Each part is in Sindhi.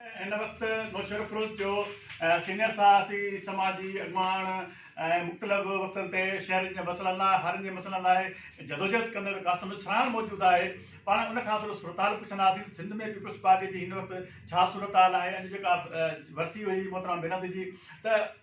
هن وقت نوشهرفروز جو سينيئر صحافي، سماجي اڳواڻ ۽ مختلف وقتن تي شهرين جي مسئلن لاء هارين جي مسئلن لاء جدوجهد ڪندڙ قاسم اسراڻ موجود آهي پاڻ ان کان ٿورو صورتحال پڇنداسين سنڌ ۾ پيپلز پارٽي جي هن وقت ڇا صورتحال آهي اڄ جيڪا ورسي هئي محترمه بينظير جي ته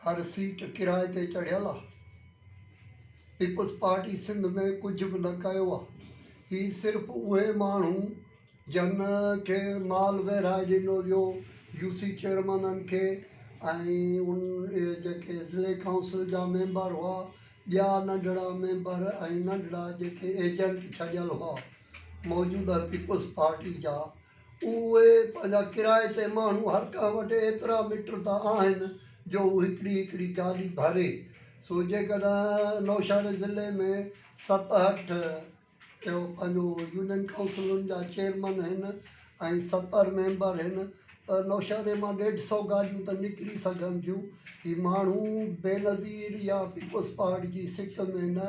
هر سيٽ ڪرائي تي چڙهيل آ. پيپلز پارٽي سنڌ ۾ ڪجهه به نه ڪيو آ. هي صرف اهي ماڻهو جن کي مال ويرهائي ڏنو ويو يو سي چيئرمينن کي ۽ اهي جيڪي ضلعي ڪائونسل جا ميمبر هئا ٻيا ننڍڙا ميمبر ۽ ننڍڙا جيڪي ايجنٽ ڇڏيل هئا موجوده پيپلز پارٽي جا اهي پنهنجا ڪرائي تي ماڻهو هر ڪنهن وٽ ايترا مٽ ته آهن جو هو هڪڙي هڪڙي گاڏي ڀري سو جيڪڏهن نوشهري ضلعي ۾ ست هٺ اهو پنهنجو يونين ڪائونسلن جا چيئرمن هن ۽ ستر ميمبر هن ته نوشهري مان ڏيڍ سو گاڏيون ته نڪري سگهن ٿيون هي ماڻهو بينظير يا پيپلز پارٽ جي سڪ ۾ نه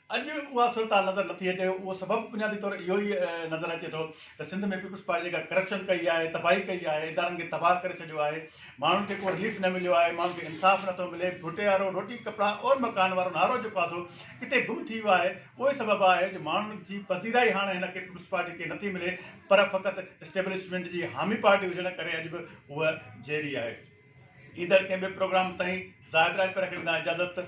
اڄ اها صورتحال نظر نٿي اچي، اهو سبب بنيادي طور اهو ئي نظر اچي ٿو ته سنڌ ۾ پيپلز پارٽي جيڪا ڪرپشن ڪئي آهي، تباهي ڪئي آهي، ادارن کي تباهه ڪري ڇڏيو آهي، ماڻهن کي ڪو رليف نه مليو آهي، ماڻهن کي انصاف نه ٿو ملي، ڀوٽيارو، روٽي ڪپڙا اور مڪان وارو نعرو جيڪو آسو ڪٿي گم ٿي ويو آهي، اهوئي سبب آهي جو ماڻهن جي پذيرائي هاڻ هن کي پيپلز پارٽي کي نٿي ملي پر فقط اسٽيبلشمينٽ جي حامي پارٽي هجڻ ڪري اڄ به هوء جيئري آهي. ايندڙ ڪنهن ٻئي پروگرام تائين زاهد راڄپر کي ڏيندان اجازت.